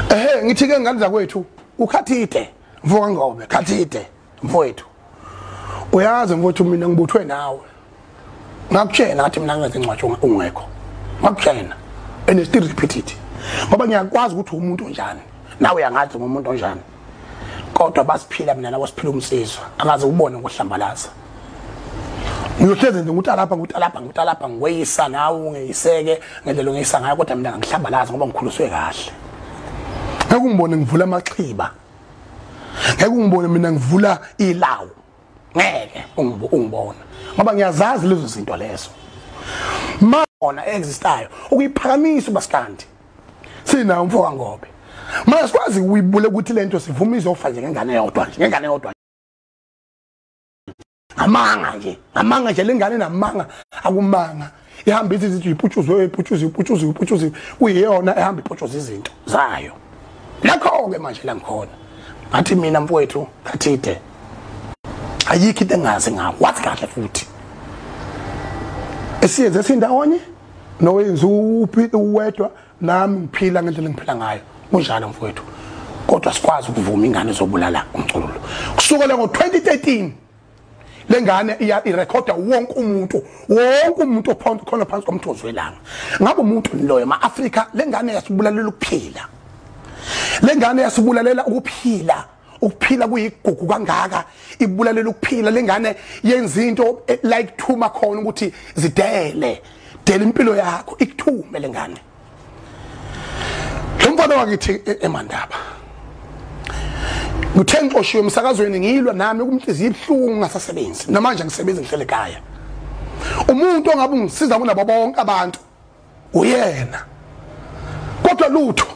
ehe ngithi ke ngane zakwethu ukhathide mfoka ngobe khathide mfowethu uyazi mfowethu mina ngibuthwe nawe ngakutshela ngathi mina ngenze incwatsho ungekho ngakutshela and still repeat it ngoba ngiyakwazi ukuthi umuntu onjani nawe uyangazi ngomuntu onjani kodwa basiphila mina nabo siphila umsizwa akaze ubone ngohlambalaza ngiyohlezi nje ukuthi alapha ngithi alapha ngithi alapha ngiweyisa nawe ungeyiseke ngendlela ongeyisa ngayo kodwa mina ngihlambalaza ngoba ngikhuliswe kahle ngeke ungibone ngivula amaxhiba ngeke ungibone mina ngivula ilawu ngeke ungibona ngoba ngiyazazi lezo zinto lezo mona existayo ukuyiphakamisa ubasikandi sina umfo kangobe manje sikwazi uyibule ukuthi lento sivuma izofa nje ngengane yodwa nje ngengane yodwa amanga nje amanga nje lengane namanga akumanga ihamba ithi izinto iputshuzwe iputshuzwe iputshuzwe iputshuzwe kuyiyona ehamba iputshuza izinto zayo lakho-ke manje la ngikhona ngathi mina mfowethu kathide ayikho into engazi ngawo wathi kahle futhi esiyenze esindawonye nowenza uphile uwedwa nami ngiphila ngendlela engiphila ngayo kunjalo mfowethu kodwa sikwazi ukuvuma ingane zobulala umculo kusukela ngo-2013 lengane iya irecorda wonke umuntu wonke umuntu ophonto khona phansi komthozi welanga ngabe umuntu loyo ma Africa lengane yasibulalela ukuphila lengane yasibulalela ukuphila ukuphila kuyigugu kangaka ibulalela ukuphila lengane yenza into eh, like thuma khona ukuthi zidele dela impilo yakho ikuthume lengane lo mfana wakithi e-, emandaba ngithe ngixoshiwe emsakazweni ngilwa nami ukumhliziyo ibuhlungu ngasasebenzi namanje ngisebenza ngihlele ekhaya umuntu ongabe ungisiza kunabo bonke abantu uyena kodwa lutho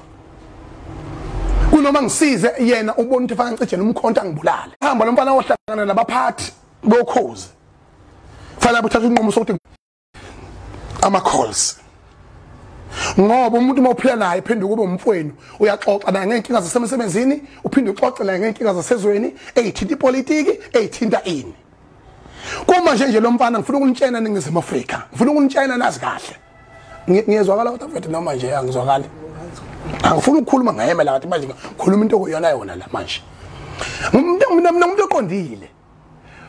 kunoma ngisize yena ubona ukuthi fanele ncijene umkhonto angibulale hamba lo mfana ohlangana nabaphathi bokhozi fanele uthathe unqumo sokuthi ama calls ngoba umuntu uma uphila naye phinde kube umfweni uyaxoxa naye ngeenkinga zasemsebenzini uphinde uxoxe naye ngeenkinga zasezweni eyithinta ipolitiki eyithinta ini kuma nje nje lo mfana ngifuna ukunitshena ningizimu afrika ngifuna ukunitshena nazi kahle ngiyezwakala kodwa mfethu noma nje angizwakali angifuni ukukhuluma ngayemela kathi manje ngikhuluma into okuyona yona la manje mina mina umuntu oqondile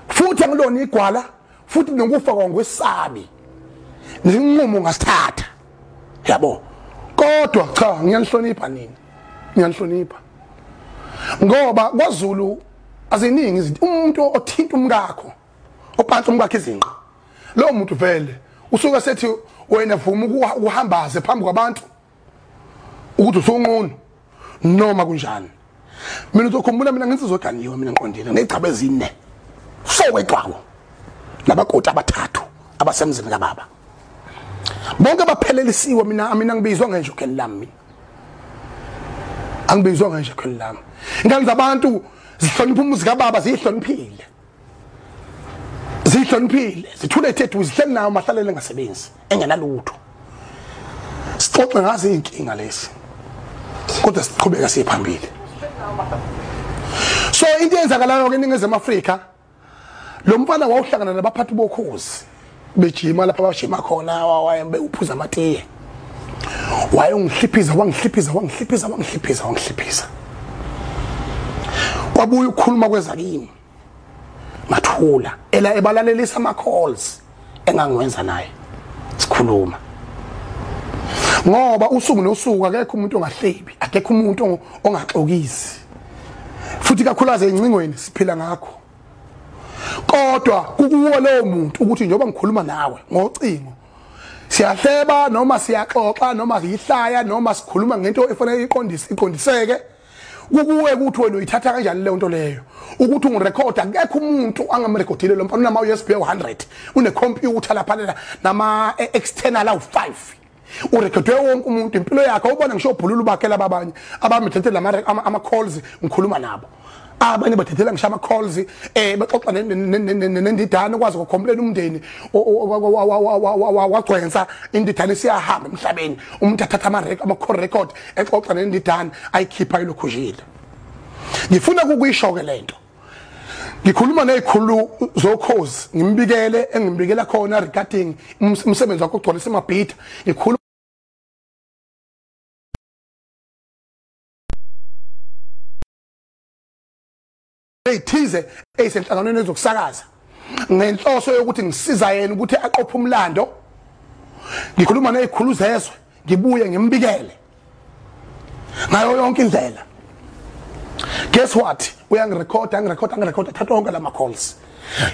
futhi angilona igwala futhi nokufa kwangwesabi nginqumo ngasithatha yabo kodwa cha ngiyanihlonipha nini ngiyanihlonipha ngoba kwaZulu aziningi izinto umuntu othinta umkakho ophansi umkakhe izinqa lowo muntu vele usuke sethi wena vuma ukuhambaze phambi kwabantu ukuthi usunqunu noma kunjani mina uzokhumbula mina nginsizwa eganiwe mina ngiqondile ngigcaba ezine sokwegcwako nabakoti abathathu abasemzini kababa bonke baphelelisiwe mina mina ngibizwa ngenje ukheli lami angibizwa ngenje ukheli lami ingane zabantu zihlonipha umuzi kababa ziyihloniphile zihloniphile zithule ethethu zihleli nawo mahlalele engasebenzi engenalutho sixoxe ngazo iy'nkinga lezi kodwa siqhubeka siye phambili so into eyenzakalayo ke eningizimu afrika lo mfana wawuhlangana nabaphathi bokhozi bejima lapha bajima khona wayembe uphuza amatiye wayongihliphiza wangihliphiza wangihliphiza wangihliphiza wangihliphiza kwabuya ukukhuluma kwezakini ngathula ela ebalalelisa ama calls engangiwenza naye sikhuluma ngoba usuku nosuku akekho umuntu ongahlebi akekho umuntu ongaxokisi futhi kakhulaze incingweni siphila ngakho kodwa kukuwo lowo muntu ukuthi njengoba ngikhuluma nawe ngocingo siyahleba noma siyaxoxa noma yihlaya noma sikhuluma ngento efanele iqondise iqondiseke kukuwe ukuthi wena uyithatha kanjani leyo nto leyo ukuthi ungirekhoda akekho umuntu angamrekhodile lo mfana unama-usb u-100 unekhompyutha laphalela nama-external awu-5 urekhodwe wonke umuntu impilo yakhe ubona ngisho obhulula ubakela babanye abamithethele ama-calls ngikhuluma nabo abanye bathethela ngisho ama-calls um eh, bexoxa nendidane ukwazi ukukhomplela umndeni wagcwensa indidane siyahamba emhlabeni umuntu athatha ama-call record exoxa nendidane ayikhipha ilokhuzile ngifuna kukuyisho-ke le nto ngikhuluma nezikhulu zokhozi ngimbikele engimbikela khona regarding umsebenzi wakho ogcwalisa amabhida ngikhuluma eyithize eyisenhlanganweni ezokusakaza ngenhloso yokuthi ngisiza yena ukuthi aqophe umlando ngikhuluma nezikhulu zezwe ngibuye ngimbikele ngayo yonke indlela guess what uyangirecorda angirecorda angirecorda thatha onke lama calls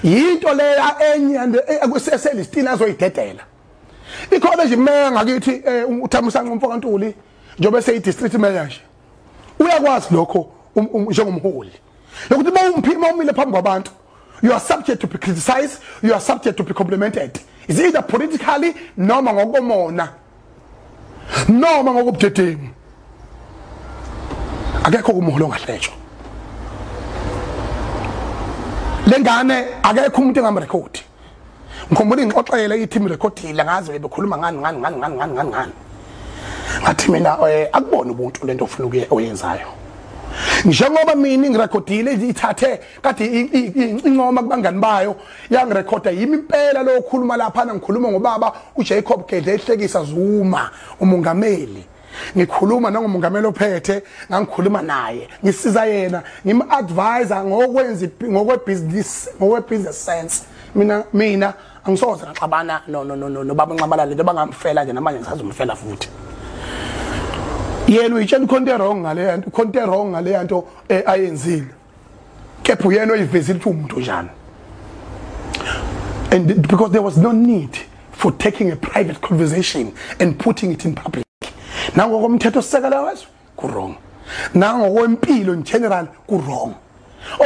yinto leya enye ekuseselistiini azoyidedela ikhona nje imeya ngakithi eh, uthamusanqa umfoka ntuli njengoba seyi-district mayor nje uyakwazi lokho um, um, njengomholi lokuthi uma umphima umile phambi kwabantu you are subject to be criticized you are subject to be complimented is either politically noma ngokomona noma ngokubudedengu akekho kumholo ngahlejwa lengane akekho umuntu engamrekhodi ngikhumbula ingixoxela ithi mirekhodile ngazi bebekhuluma ngani ngani ngani ngani ngani ngani ngani ngathi mina eh, akubona ubuntu lento ofuna ukuye oyenzayo njengoba mina ngirekhodile ithathe kade incoma kubangani bayo yangirekhoda yimi impela lokhuluma lapha ngikhuluma ngobaba uJacob Gedle ehlekisa Zuma umongameli ngikhuluma nangomongameli ophethe ngangikhuluma naye ngisiza yena ngim-advisa ngokwenza ngokwebhizinisi ngokwe-business sense mina mina angisoze ngaxabana nobaba nxamalale njengoba ngamfela nje namanje ngisazomfela futhi yena uyitshela ikhonto erong ngaleya nto ikhonto erong ngaleya nto eh, ayenzile kepha uyena oyivezile ukuthi umuntu njani and because there was no need for taking a private conversation and putting it in public nangokomthetho sisekela wezwe kurong nangokwempilo in general kurong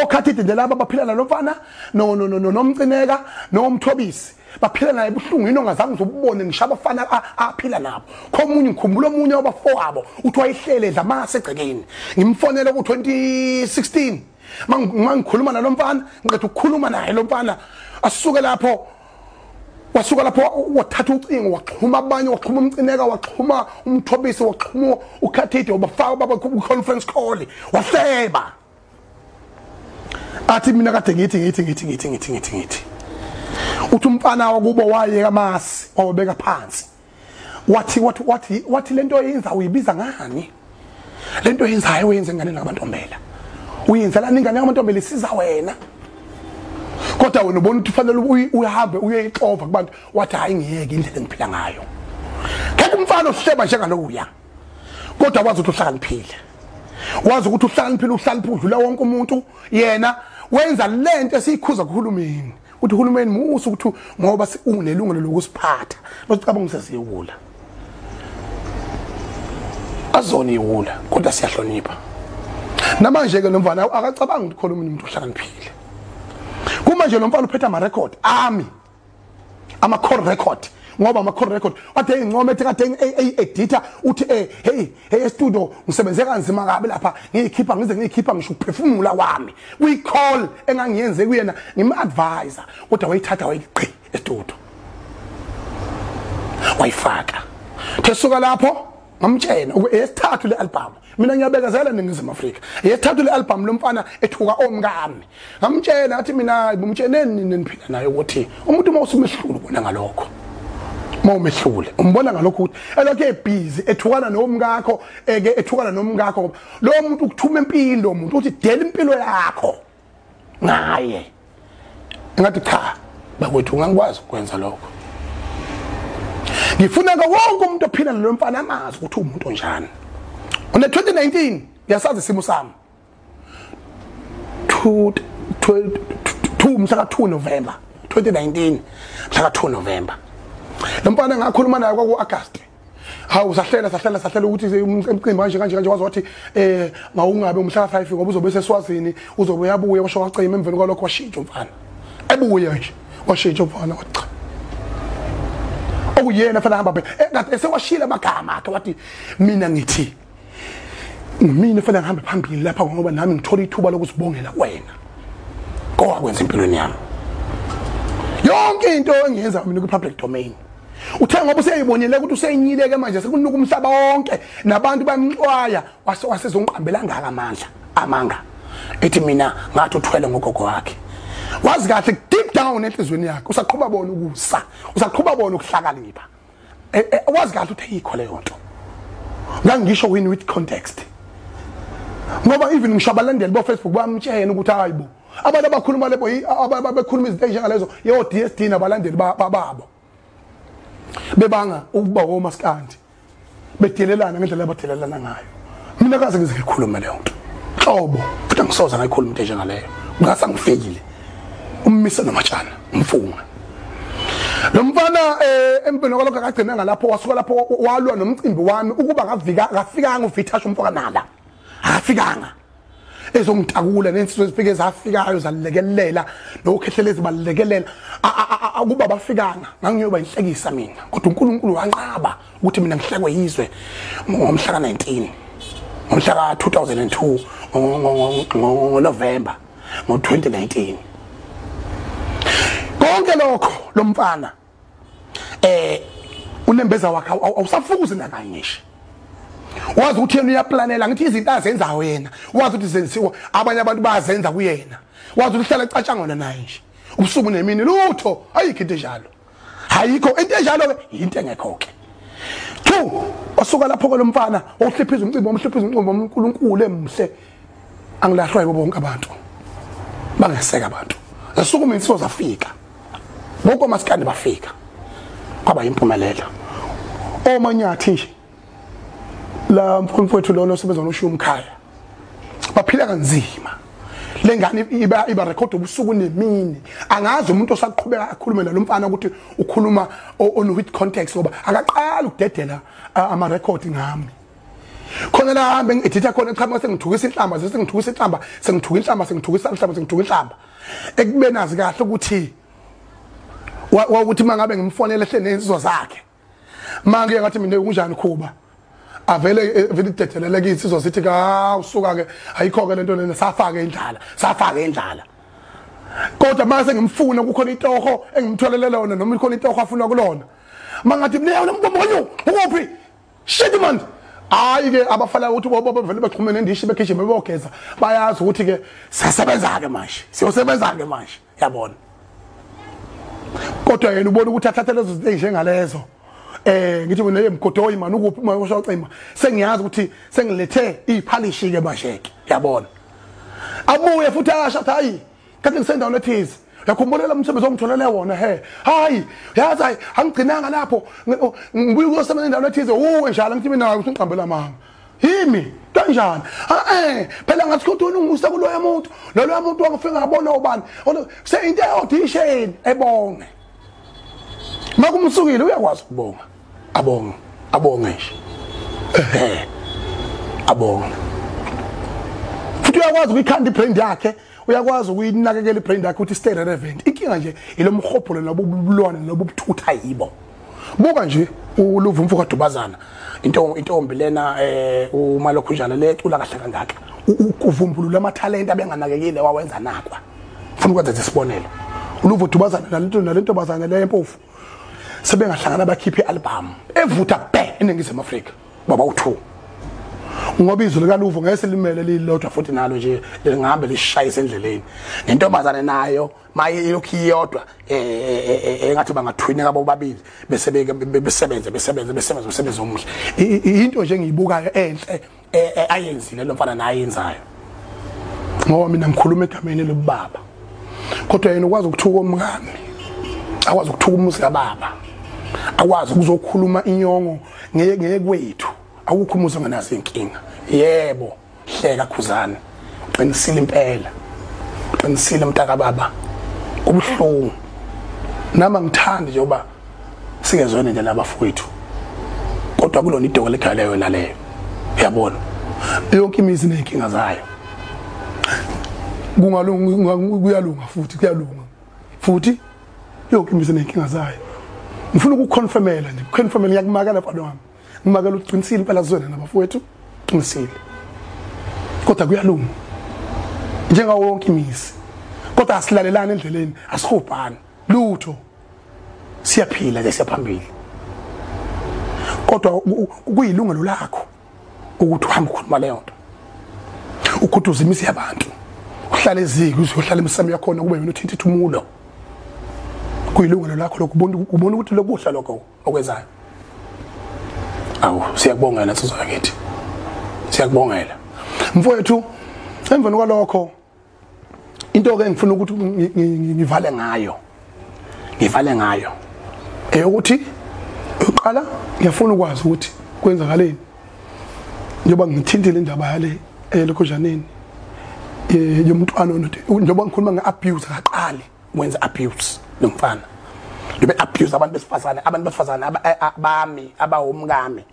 okhathi idende laba baphila nalomfana nomcineka nomthobisi baphila naye buhlungu yini ongazange uzobubone ngisho abafana aphila nabo khomunye ngikhumbula omunye wabafowabo uthi wayehlele edla amase egcekeni ngimfonele ku-2016 mangikhuluma nalo mfana ngiqeda ukukhuluma naye lo mfana asuke lapho wasuka lapho wathatha ucingo waxhuma abanye waxhuma umcineka waxhuma umthobisi waxhuma ukhathide wabafaka baba conference call wahleba athi mina kade ngithi ngithi ngithi ngithi ngithi ngithi ngithi uthi umfana wakubo wayeka amasi wawabeka phansi wathi wathi wathi wathi lento yenza uyibiza ngani lento yenzayo uyenze ngane nabantombela uyenzela ingane yamantombela isiza wena kodwa wena ubona ukuthi ufanele uhambe uyeyixova kubantu wathi hayi ngiyeke indlela engiphila ngayo ngeke umfana ohleba njengalokuya kodwa wazi ukuthi uhlakaniphile wazi ukuthi uhlakaniphile uhlaliphi udlula wonke umuntu yena wenza lento esiyikhuza kuhulumeni uthi uhulumeni musa ukuthi ngoba unelungelo lokusiphatha bese ucabanga umsesiwula azona iwula kodwa siyahlonipha namanje ke lomfana akacabanga ukuthi khona umuntu uhlakaniphile kuma nje lomfana uphetha ama record ami ama call record ngoba ama call record ade engincome ethi kade ey editor uthi eh hey hey studio ngisebenze kanzima kabi lapha ngiyikhipha ngize ngiyikhipha ngisho ukuphefumula kwami kuyi call engangiyenze kuyena ngim advisor kodwa wayithatha wayiqi estudio wayifaka thesuka lapho ngamtshena esithathu le album mina ngiyabekezela ningizimu Afrika esithathu le album lomfana ethuka omkami ngamtshena athi mina ngimtsheneni nini niphila naye ukuthi umuntu uma usumehlulu bona ngalokho uma umehlule umbona ngalokho ukuthi elokhu ebhizi ethukana nomkakho eke ethukana nomkakho ngoba lo muntu ukuthuma impilo umuntu uthi dela impilo yakho ngaye ngathi cha bakwethu ngangikwazi ukwenza lokho ngifuna ke wonke umuntu ophila nalo mfana amazi ukuthi umuntu onjani une 2019 ngiyasazi isimo sami 2 2 mhla ka 2 November 2019 mhla ka 2 November lo mfana ngakhuluma naye kwaku August hawu sahlela sahlela sahlela ukuthi emcimbi kanje kanje kanje waze wathi um mawungabe umhlala five ngoba uzobe seswazini uzobe uyabuya washo wacima emveni kwalokho washintsha umfana ebuye nje washintsha umfana wathi cha okuyena fanele hamba phela esewashile amagama akhe wathi mina ngithi ngimina fanele ngihambe phambili lapha ngoba nami ngithola ithuba lokusibongela kwena kowakwenza empilweni yami yonke into engiyenza mina kwi-public domain uthe ngoba useyibonile ukuthi useyinyileke manje sekunuka umhlaba wonke nabantu bamxwaya wase wasezongiqambela ngaka amandla amanga ethi mina ngathi uthwele ngogogo wakhe wazi kahle deep down enhlizweni yakhe usaqhuba bona ukusa usaqhuba bona ukuhlakanipha eh, eh, wazi kahle ukuthi ayikho leyo nto ngangisho win with context ngoba even ngisho abalandeli bofacebook bamtshena ukuthi hayi bo abantu abakhuluma lebo ababekhuluma izinto ezinjengalezo yo DSD nabalandeli bababo bebanga ukuba womaskandi bedelelana ngendlela abadelelana ngayo mina kaze ngize ngikhulume leyo nto hlobo futhi angisoze ngayikhuluma into njengaleyo ngase ngifikile ummise nomatshana umfunga lo mfana eh empini kwalokho akagcina ngalapho wasuka lapho walwa nomcimbi wami ukuba ngavika akafikanga uvithasha umfoka nala akafikanga ezongitakula nensizwe ezifike zafikayo zalekelela nokhehlela ezibalekelela akuba bafikanga ngangiyoba inhlekisa mina kodwa uNkulunkulu wanqaba ukuthi mina ngihlekwe yizwe ngomhla ka-19 ngomhla ka-2002 ngoNovember ngo-2019 konke lokho lo mfana eh unembeza wakhe awusafukuzi nakanye nje wazi ukuthi yena uyaplanela ngithi izinto azenzayo yena wazi ukuthi zenziwa abanye abantu bayazenza kuyena wazi ukuthi uhlala ecatshangona naye nje ubusuku nemini lutho ayikho into enjalo ayikho into enjalo ke yinto engekho ke two osuka lapho kolomfana ohliphiza umcimbi omhliphiza umcimbi omkhulu uNkulu emhle angilahlwa yibo bonke abantu bangeseka abantu zasukuma insibo zafika bonke omasikandi bafika kwaba yimpumelelo omanyathi nje la mfowethu lona osebenza noshiya umkhaya baphila kanzima lengane iba iba record ubusuku nemini angazi umuntu osaqhubeka akhulume nalo mfana ukuthi ukhuluma on with context ngoba akaqala ukudedela ama record ngami khona la hambe ngiditha khona eqhamuka sengithukisa inhlamba sengithukisa inhlamba sengithuka inhlamba sengithukisa inhlamba sengithuka inhlamba ekubeni azi kahle ukuthi wawuthi mangabe ngimfonela ehle nezizwa zakhe manje ngathi mina kunjani khuba avele eh, vele idethelela kithi sizwa sithi ka usuka ke ayikho ke lento lena safake indlala safake indlala kodwa mase ngimfuna kukhona itoho engimtholele lona noma ikhona itoho afuna kulona mangathi mleyo lomntu omunye ukuphi shit manje hayi ke abafana ukuthi bobo bevele baxhumene ndishi begijima bebogeza bayazi ukuthi ke siyasebenza ke manje siyosebenza ke manje yabona kodwa yena ubona ukuthi athathe lezo zinto njengalezo eh ngithi mina emgodoyi mani ukuphi uma usho cima sengiyazi ukuthi sengilethe iphalishi ke manje ke yabona abuye futhi asho hayi kanti ngisendaweni ethize yakhumbula lo msebenzi ongitholele wona he hayi yazi hayi angigcinanga lapho ngibuye kuyosebenza endaweni ethize uwe njalo ngithi mina ukuthi ngiqambela mama yimi kanjani eh phela ngathi ukuthi unungisa kuloya muntu loloya muntu wangifika ngabona ubani se into eyodwa isheni ebonge makumsukile uyakwazi ukubonga abonge abonge nje ehe abonge futhi uyakwazi ukuyikhanda ibrand yakhe uyakwazi ukuyinakekela ibrand yakhe ukuthi stay relevant inkinga nje ilomhobholo lobu bulwane lobu buthutha yibo buka nje uluva umfo kadubazana into intombi lena eh uma lokhu njalo le cula kahle kangaka ukuvumbulula amathalente abenganakekile wawenza nakwa ufuna ukwenza isibonelo uluva udubazana nalento nalento bazana le empofu sebengahlangana bakhiphe album evutha bhe eningizimu Afrika baba uthu ngoba izwi likaluvo ngeke silimele lilodwa futhi nalo nje lingahambe lishayise endleleni nentombazane nayo maye ilokhu iyodwa eh, eh, eh, engathi bangathwineka bobabili bese besebenze besebenze besebenze umsebenzi omuhle into nje engiyibukayo enhle ayenzile lo mfana naye yenzayo ngoba mina ngikhuluma egameni lobaba kodwa yena ukwazi ukuthuka omngane akwazi ukuthuka umuzi kababa akwazi ukuzokhuluma inyongo ngeke ngeke kwethu awukho umuzi onganazo inkinga yebo hleka khuzana uqinisile impela uqinisile mntaka baba kubuhlungu nama ngithandi njengoba singezwene nje nabafowethu kodwa kulona idoko legale yona leyo uyabona yonke imizi inenkinga zayo kungalunga kuyalunga futhi kuyalunga futhi yonke imizi nenkinga zayo ngifuna ukuconfirmela nje uconfirmela ngiyakumakela mfana wami ngimakela uqinisile impela zwena nabafowethu qinisile kodwa kuyalunga njengawo wonke imizi kodwa asilalelani endleleni asihubhani lutho siyaphila ke siyaphambili kodwa kuyilungelo lakho ukuthi uhambe ukhuluma leyo nto ukhuduza imizi yabantu uhlale eziki uzohlala emsamo yakhona kube yona uthinta ithumulo kuyilungelo lakho lokho ubona ukuthi lokuhla lokho okwenzayo awu siyakubongela nsizwa yakithi siyakubongela mfowethu emveni kwalokho into ke ngifuna ukuthi ngivale ngayo ngivale ngayo eyokuthi uqala ngiyafuna ukwazi ukuthi kwenzakaleni njengoba ngithintile indaba yale elokhozaneni eh, yomntwana onothi njengoba ngikhuluma nge-abuse akaqali wenza abuse lo mfana ngibe abuse abantu besifazane abantu besifazane abami abawomkami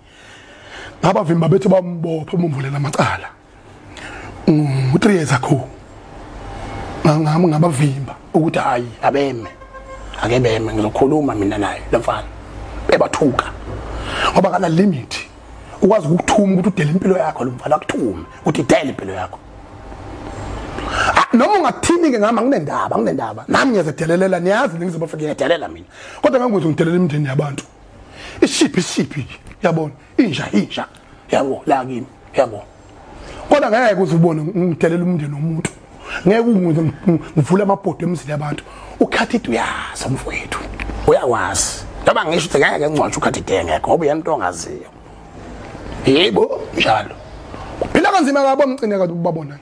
ngabavimba bethu bambopha bamvulela amacala u-3 years ago ngangami ngabavimba ukuthi hhayi abeme ake beme ngizokhuluma mina naye lo mfana bebathuka ngoba kana limit ukwazi ukuthuma ukuthi udele impilo yakho lo mfana akuthume ukuthi idele impilo yakho ah, noma ungathini ke ngami anginendaba anginendaba nami ngiyazedelelela niyazi ningizobafa ngiyadelela mina kodwa ngangikwenza ngidelela imindeni yabantu isiphi isiphi yabona inja inja yabo la kimi yabo kodwa ngeke uze ubone ngidelela umndeni womuntu ngeke ngivule amabhodo emzini yabantu ukhathide uyazi mfowethu uyakwazi noma ngisho ukuthi ngeke ngingcwatshe ukhathide ngeke ngoba uyena into ongaziyo yebo njalo phila kanzima kabo mcine kanti ubabona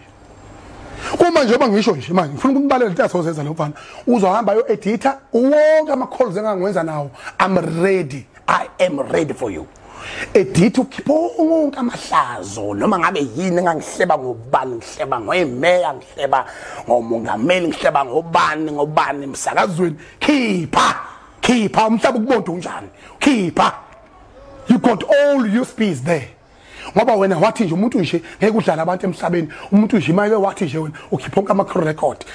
uma njengoba ngisho nje manje ngifuna ukumbalela into asozenza lo mfana uzohamba ayo editha wonke ama calls engangiwenza nawo i'm ready i am ready for you editha ukhipha wonke amahlazo noma ngabe yini engangihleba ngobani ngihleba ngoyemeya ngihleba ngomongameli ngihleba ngobani ngobani emsakazweni khipha khipha umhlaba ukubonda unjani khipha you got all your speeds there ngoba wena wathi nje umuntu nje ngeke udlala abantu emhlabeni umuntu nje imake wathi nje wena ukhipha onke ama-record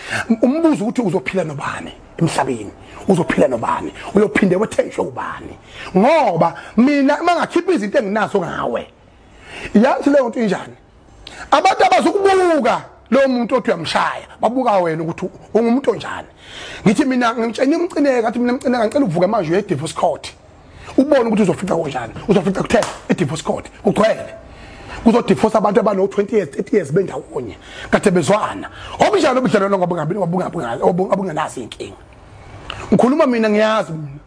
umbuzo ukuthi uzophila nobani emhlabeni uzophila nobani uyophinde wethenjwe ubani ngoba mina uma ngakhipha izinto enginazo ngawe yathi leyo nto injani abantu abazokubuka lo muntu othi uyamshaya babuka wena ukuthi ungumuntu onjani ngithi mina ngimtshene umcineka athi mina mcineka ngicela uvuke manje uye-divorce court ubone ukuthi uzofica konjani uzofica kuthe idivorce court kugcwele kuzodifosa abantu abano-20 years 30 years bendawonye kade bezwana obunjani obudlalelo ngobungenazo inkinga ngikhuluma mina ngiyazi mina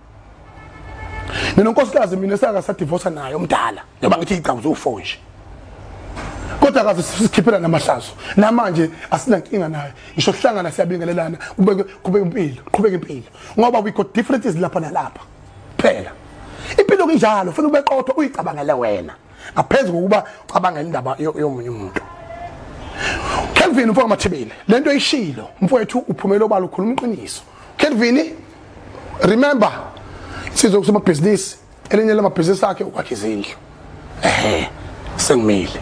mina unkosikazi mina esaka sadivosa naye omdala noma ngithi igcawu zowu-four nje kodwa kaze sikhiphela namahlazo namanje asinankinga naye ngisho sihlangana siyabingelelana kubeke kubeke impilo qhubeka impilo ngoba we got differences lapha nalapha phela impilo kunjalo ufuna ube qotho uyicabangele wena ngaphezu kokuba ucabangela indaba yomunye umuntu Kelvin mfowethu mathibile lento eyishilo mfowethu uphumela obala ukhuluma iqiniso Kelvin remember sizwe kusomabhizinisi elinye lamabhizinisi akhe ukwakha izindlu ehe sengimile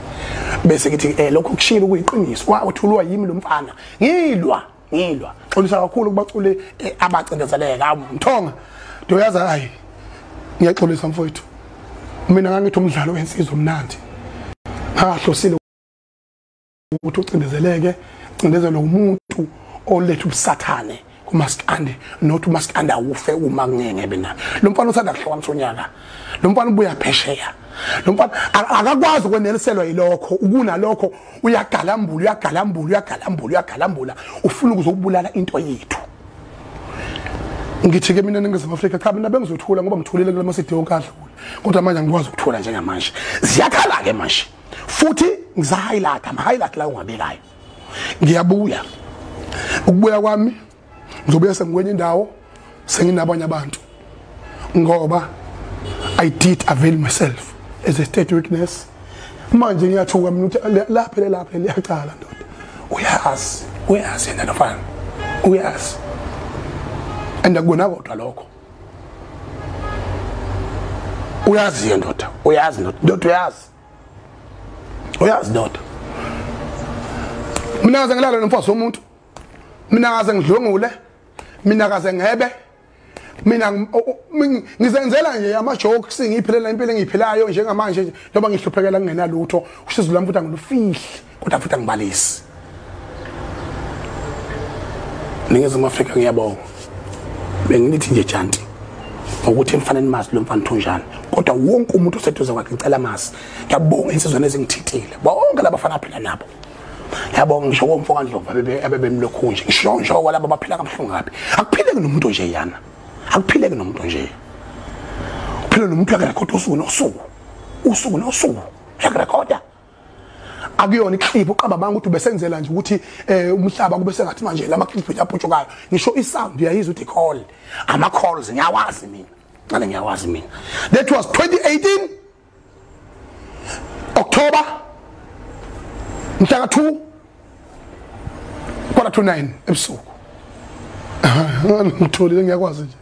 bese ngithi eh lokho kushilo kuyiqiniso wa uthulwa yimi lo mfana ngilwa ngilwa xolisa kakhulu kubaculi eh, abacindezeleka mthonga ndoyazi hayi ngiyaxolisa mfowethu mina ngangithi umdlalo wensizwa omnandi ngahlosile ukuthi ucindezeleke cindezelwe umuntu oletha ubusathane kumaskandi not umaskandi awufe uma kungengebe na lo mfana usanda kuhlokanisa unyaka lo mfana ubuya phesheya lo mfana akakwazi ukweneliselwa yilokho ukunalokho uyagalambula uyagalambula uyagalambula uyagalambula ufuna ukuzokubulala into yethu ngithi ke mina ningizimu afrika cha mina bengizothula ngoba ngithulile kula masidi yonkadla kodwa manje angikwazi ukuthula njengamanje ziyakhala-ke manje futhi ngisa highlight ama highlight la ungabekayo ngiyabuya ukubuya kwami ngizobuya sengikwenye indawo senginabanye abantu ngoba i did avail myself as a state witness manje ngiyathuka mina ukuthi lapha lapha liyacala ndoda uyazi uyazi yena nofana uyazi and akubona kodwa lokho uyazi ndoda uyazi ndoda uyazi uyazi ndoda mina kaze ngilale nomfazi womuntu mina kaze ngidlwengule mina kaze ngebe mina ngizenzela nje ama jokes ngiphilela impilo engiyiphilayo njengamanje nje njengoba ngihluphekela kungenalutho usizo lami futhi angilufihle kodwa futhi angibalisi ningizimu afrika ngiyabonga benginithi nje janti ngokuthi mfana nimazi lo mfana thunjani kodwa wonke umuntu oseduze kwakhe ngicela mazi ngiyabonga insizwane ezingithithile bonke labafana aphila nabo yabonga ngisho komfo kandlovu abebemlokhu nje ngisho ngisho kwalabo abaphila kabuhlungu kabi akuphileki nomuntu nje yana akuphileki nomuntu nje uphila nomuntu akarekhoda usuku nosuku usuku nosuku uyakurekhoda akuyona iclip uqabamanga ukuthi ubesenzela nje ukuthi eh umhlaba kube sengathi manje lama clip yaphutshukayo ngisho i sound uyayiza uthi call ama calls ngiyawazi mina ngale ngiyawazi mina that was 2018 October mhla ka 2 quarter to 9 ebusuku ngitholile ngiyakwazi nje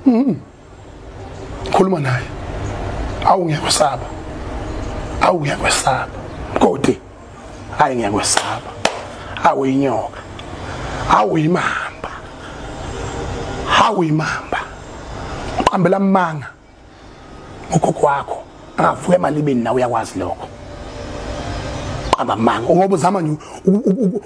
mm-hmm. khuluma naye awu ngiyakwesaba awu ngiyakwesaba kodi hayi ngiyakwesaba awu inyoka awu imamba awu imamba uqambela amanga ugogo wakho angavuka emalibeni nawe uyakwazi lokho qamba manga ngoba uzama nje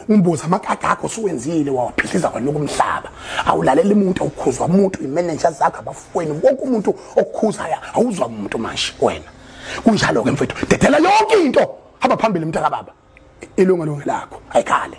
umbuza amakaka akho suwenzile wawaphihliza kwena kumhlaba awulalela umuntu awukhuzwa umuntu imanager zakhe abafweni wonke umuntu okukhuzaya awuzwa umuntu manje wena kunjalo ke mfethu dedela yonke into hamba phambili mntaka baba ilunga lonke lakho ayikhale